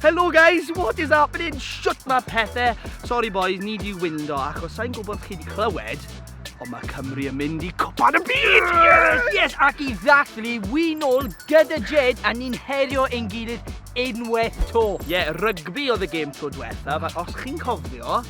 Hello guys, what is happening? Shut my pethau. Sorry boys, ni di windo achos sa'n gwybod chi di clywed ond mae Cymru yn mynd i copan y byd! Yes! Yes, ac i ddathlu, wy'n ôl gyda Jed a ni'n herio ein gilydd unwaith to. Ie, yeah, rygbi oedd y gêm to diwethaf, ac os chi'n cofio,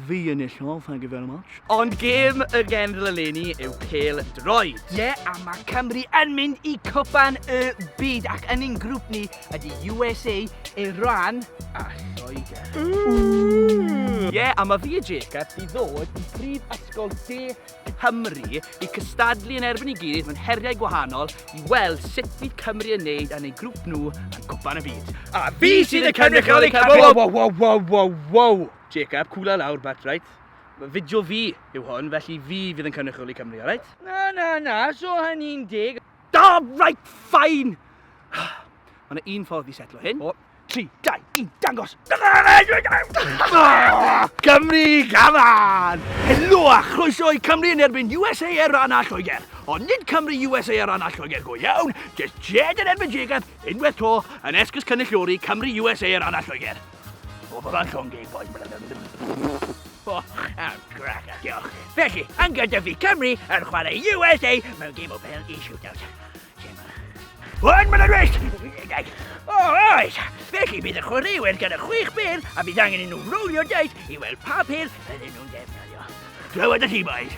fi yn illodd, thank you very much. Ond gêm y genedl eleni yw pêl droed. Ie, yeah, a mae Cymru yn mynd i cwpan y byd ac yn ein grŵp ni ydy USA, Iran a Lloegr. Ie, yeah, a mae fi a Jacob i ddod i brif ysgol de Cymru i cystadlu yn erbyn i gilydd mewn heriau gwahanol i weld sut fydd Cymru yn neud yn ei grŵp nhw yn cwpan y byd. A fi sydd yn cynrychioli Cymru! Wow, wow, wow, wow, wow, wow! Jacob, cwla lawr, but right. Fideo fi yw hwn, felly fi fydd yn cynrychioli Cymru, alright? Na, na, na, so hynny'n deg. Da, right, fine! Mae yna un ffordd i setlo hyn. O, 3, 2, 1, dangos! Cymru gafa'n! Helo a chroeso i Cymru yn erbyn USA ar ran a Lloegr. Ond nid Cymru USA ar ran a Lloegr go iawn, jyst Jed yn erbyn Jacob, unwaith to, yn esgus cynulliori Cymru USA ar ran a Lloegr. O, fy fan llon gig, boys. O, am grac, diolch. Felly, angen dyfu Cymru yn chwarae USA mewn gêm o bel i shootout. One minute rest! O, oes! Felly bydd y chwaraewyr gyda chwech bel a bydd angen i nhw rowlio dais i weld pa bel ydyn nhw'n defnyddio. Clywed y ti, boys.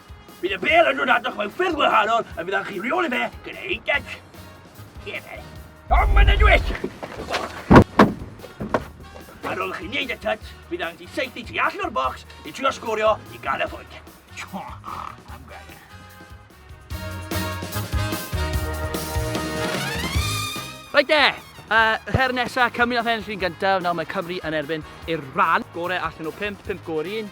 Bydd y bêl yn dod atoch mewn ffyrdd wahanol a bydd chi reoli fe gyda ein gec. Cefel. Tom yn y dwyt! Ar ôl chi wneud y tyt, bydd angen ti seithi ti allan o'r bocs i trio sgorio i gael y ffwyd. Rhaid de! Uh, her nesa, Cymru nath ennill yn gyntaf, nawr mae Cymru yn erbyn i'r rhan. Gore allan o 5, 5 go'r un.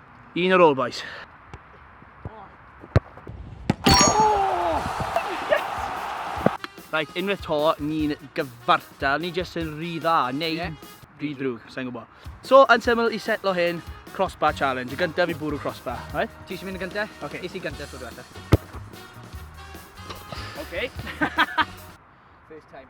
Un ar ôl, boys. Right, unwaith to, ni'n gyfartal, ni jyst yn rhy dda, neu yeah. rhy ddrwg, sa'n gwybod. So, yn syml i setlo hyn, crossbar challenge. Y gyntaf i bwrw crossbar, right? Ti eisiau mynd y gyntaf? Oce. Okay. Is i gyntaf, dwi'n dweud. Oce. First time.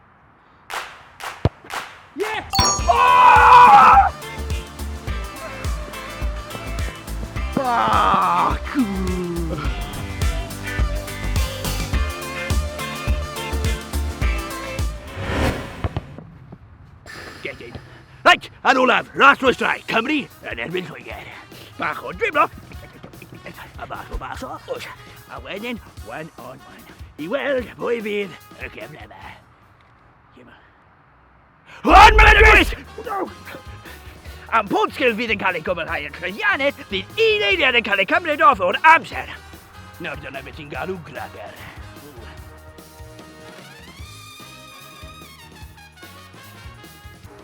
Reit, yn olaf, ras oes drai, Cymru yn erbyn Lloegr. Bach o driblo, a bach o bach o, a wedyn, one on one, i weld pwy fydd y gefn efo. Yma. Hwn mae'n dweud! Am pob sgil fydd yn cael ei gwblhau yn llwyddiannus, bydd un eiliad yn cael ei cymryd off o'r amser. Nawr dyna beth sy'n galw graber.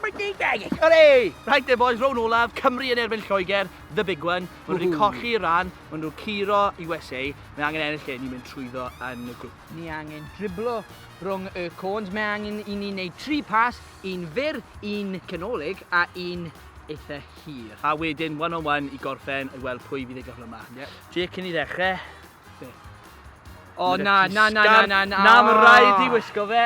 Hooray! Right there boys, rown olaf, Cymru yn erbyn Lloegr, the big one. Mae nhw wedi colli ran, mae nhw curo USA, mae angen ennill lle, ni'n mynd trwyddo yn y grŵp. Ni angen driblo rhwng y côns, mae angen i ni wneud tri pas, un fyr, un canolig a un eitha hir. A wedyn one on one i gorffen i weld pwy fydd ei gyflyma. Yep. Jake cyn i ddechrau. Be? O na, na, na, na, na, na. Na, mae rhaid i wisgo fe.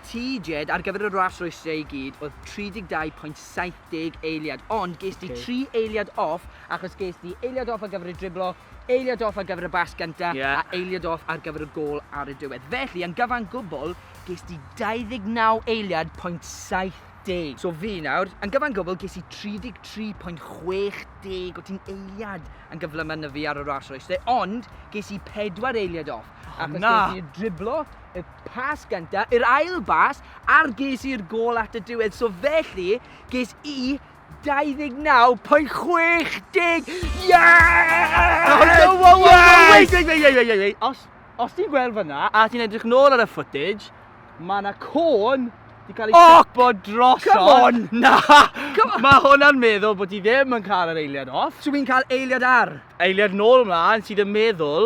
TJ, ar gyfer y ras rwystriau i gyd, oedd 32.70 eiliad, ond ges di 3 eiliad off, achos ges di eiliad off ar gyfer y driblo, eiliad off ar gyfer y bas gyntaf, yeah. a eiliad off ar gyfer y gol ar y diwedd. Felly, yn gyfan gwbl, ges di 29 eiliad pwynt 70. So fi nawr, yn gyfan gwbl, ges i 33.60 o ti'n eiliad yn gyflymau na fi ar y ras rwystrau, ond ges i 4 eiliad off. A hwnna! Ac os ges i driblo y pas gyntaf, yr ail bas, a'r ges i'r gol at y diwedd. So felly, ges i 29.60! Yeah! Oh, no, wow, wow, wow, wait, wait, wait, wait, wait, wait. Os, os ti'n gweld fyna, a ti'n edrych nôl ar y footage, mae yna côn di cael ei oh, sipo drosodd. Come on! Na! Mae hwnna'n meddwl bod ti ddim yn cael yr eiliad off. So fi'n cael eiliad ar? Eiliad nôl mlaen sydd yn meddwl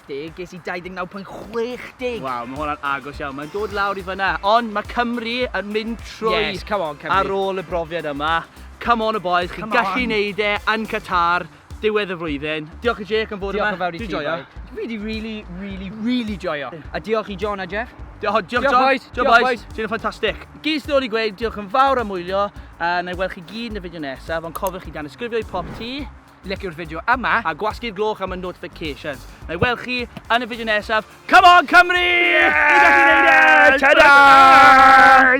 70, ges i 29.60! Waw, mae hwnna'n agos iawn, mae'n dod lawr i fyna, ond mae Cymru yn mynd trwy yes, come on, Cymru. ar ôl y brofiad yma. Come on y boys, chi'n gallu neud e yn Qatar, diwedd y flwyddyn. Diolch i Jake am fod yma. Diolch yn fawr i ti, joio. Fi di really, really, really joio. A diolch i John a Jeff. Diolch, diolch, diolch, boys. Diolch, boys. boys. Ti'n ffantastig. Gys ddod i gweud, diolch yn fawr am wylio, a na i weld chi gyd yn y fideo nesaf, ond cofiwch chi dan ysgrifio i pop ti. Licio'r fideo yma a gwasgu'r gloch am y notifications. Na'i weld chi yn y fideo nesaf. Come on Cymru! Yeah! Ta-da!